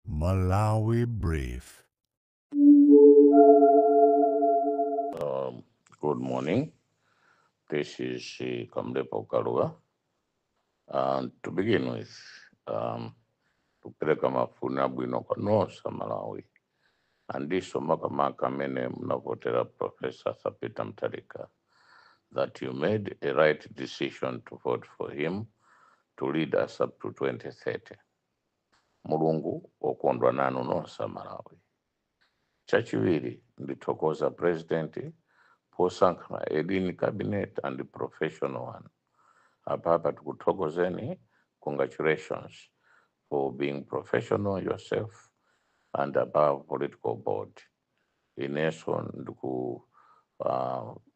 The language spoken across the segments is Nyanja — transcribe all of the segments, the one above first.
Malawi Brief. Um, good morning. This is uh, Kamlepo Kalua. And to begin with, um, tupeleka mafuna bwino kwa nonse Malawi andiso makamaka amene munavotera Professor Sapita Mtalika that you made a right decision to vote for him to lead us up to 2030. Mulungu okondwa nanu nonse Malawi. Chachiwiri ndithokoza President posankha a lean Cabinet and professional one. Apapa tikuthokozeni congratulations for being professional yourself and above political board. Ineso ndiku uh,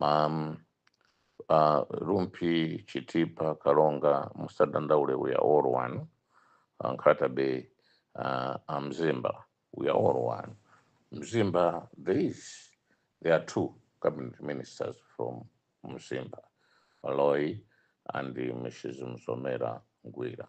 mam uh, rumpi chitipa kalonga musadandaule we are all one uh, nkhata bay uh, uh, mzimba we are all one mzimba there is there are two cabinet ministers from mzimba maloi and uh, mrs msomera ngwira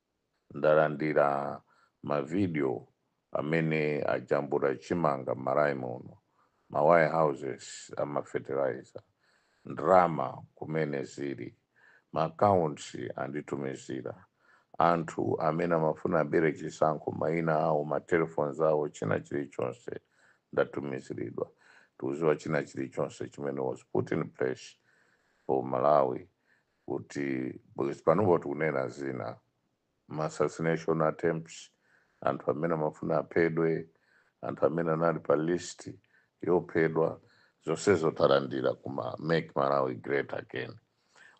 ndalandira ma video amene ajambula chimanga mmalawi muno, ma warehouses a ma fertilizer, ndalama kumene zili, ma accounts anditumizira, anthu amene amafuna abere chisankho maina awo, ma telephones awo, china chilichonse ndatumiziridwa, ndikuziwa china chilichonse chimene was put in place for Malawi kuti panopo tikunena zina ma assassination attempts anthu amene amafuna aphedwe anthu amene anali pa list yophedwa zonsezo talandira kuma make malawi great again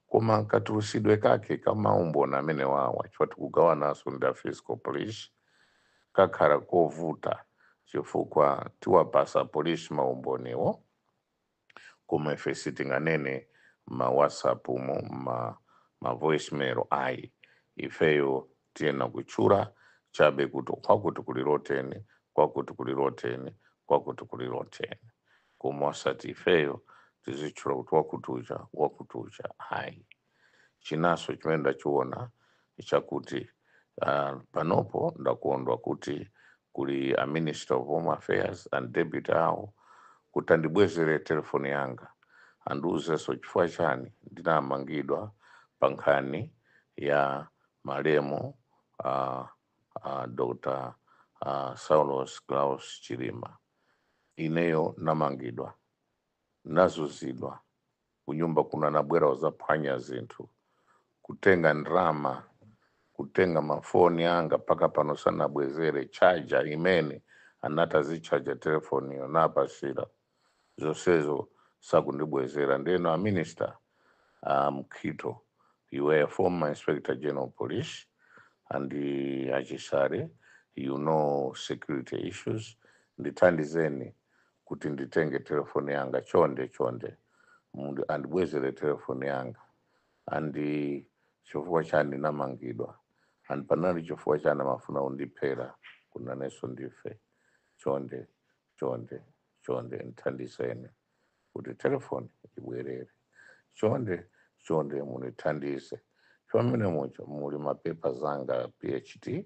koma katulusidwe kake kamaumboni amenewawa chifukwa tikugawananso ndi a fiscal police kakhala kovuta chifukwa tiwapasa polisi maumboniwo koma ife sitinganene ma whatsapp mu ma voicemail ayi ifeyo tiyenera kutchula chabe kuti kwakuti kuli rotten kwakuti kuli rotten kwakuti kuli rotten koma osati ifeyo tizitchula kuti wakuti uja wakuti uja ayi chinanso chimene ndachiona chakuti uh, panopo ndakondwa kuti kuli a minister of home affairs and deputy awo kuti andibwezere telefoni yanga andiuzenso chifukwa chani ndinamangidwa pa nkhani ya malemu uh, uh, dr uh, saulos klaus chilima ineyo namangidwa nazuzidwa kunyumba kuno anabwera uzaphwanya zinthu kutenga ndrama kutenga mafoni anga mpaka pano sanabwezere chaja imene anati azichajira telefoniyo ndinawapatsira zonsezo sakundibwezera ndeno a minister a mkhito you were a former inspector general police and uh, a Chisale you know security issues ndithandizeni kuti nditenge telefoni yanga chonde chonde mundi andibwezere telefoni yanga andi chifukwa chani ndinamangidwa and panali chifukwa chani amafuna undiphera kunanenso ndife chonde chonde chonde ndithandizeni kuti telefoni ibwerere chonde chonde mundithandize pamene mucho muli mapepa zanga phd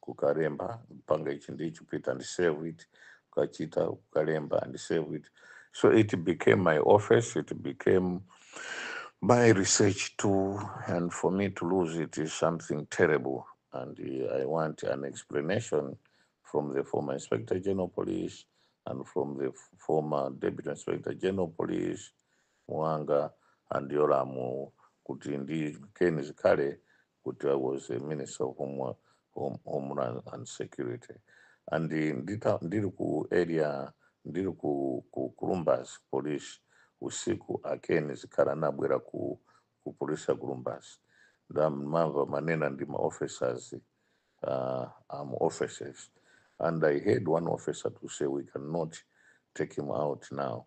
kukalemba panga ichi ndi ichi pita and save it kukachita kukalemba and save it so it became my office it became my research tool and for me to lose it is something terrible and uh, i want an explanation from the former inspector general police and from the f- former deputy inspector general police muanga and yolamu kuti ndi keni zikhale kuti i was a minister of homeland and security and ndili ku area ndili ku, ku lumbadzi police usiku a ken zikhale anabwera ku police ya lumbadzi ndamumva amanena ndi ma officers uh, um, officers and i heard one officer to say we cannot take him out now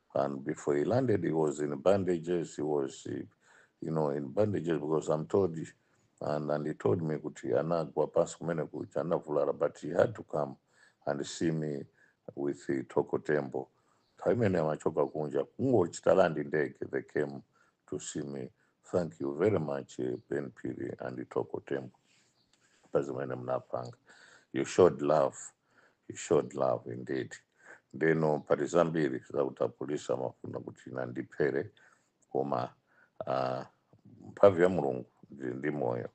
And before he landed, he was in bandages. He was, you know, in bandages because I'm told, and, and he told me kuti anagwa pansi kumene kuja anavulala, but he had to come and see me with the Toko Tembo. Nthawi imene amachoka kunja kungochita landi ndege, they came to see me. Thank you very much, eh, Ben Piri and Toko Tembo. Pazimene mnapanga. You showed love. he showed love indeed ndeno pali zambiri zakuti apolisi amafuna kuti akandiphere koma ah, mphamvu ya mulungu ndili ndi moyo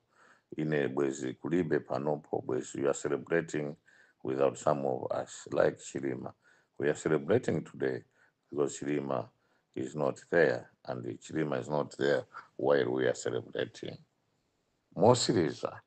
ine bwezi kulibe panopo bwezi you are celebrating without some of us like chilima we are celebrating today because chilima is not there and chilima is not there while we are celebrating motsiriza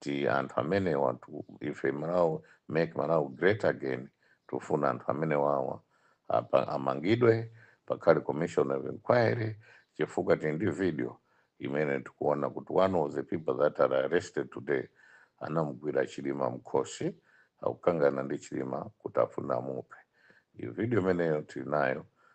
ti anthu amenewatu ife Malawi make Malawi great again tufuna anthu amenewawa amangidwe pakhale commission of inquiry chifukwa tili ndi video imene tikuona kuti one of the people that are arrested today anamugwira chilima mkhosi akukangana ndi chilima kuti afuna amuphe iyo video imeneyo tili nayo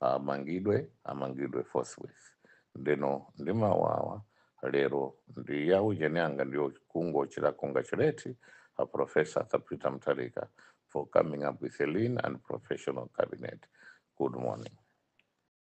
amangidwe amangidwe forthwith ndeno ndi mawu awa lero ndi ya ujeni anga ndiyo kungochita congratulate a professor Arthur Peter Mutharika for coming up with a lean and professional cabinet good morning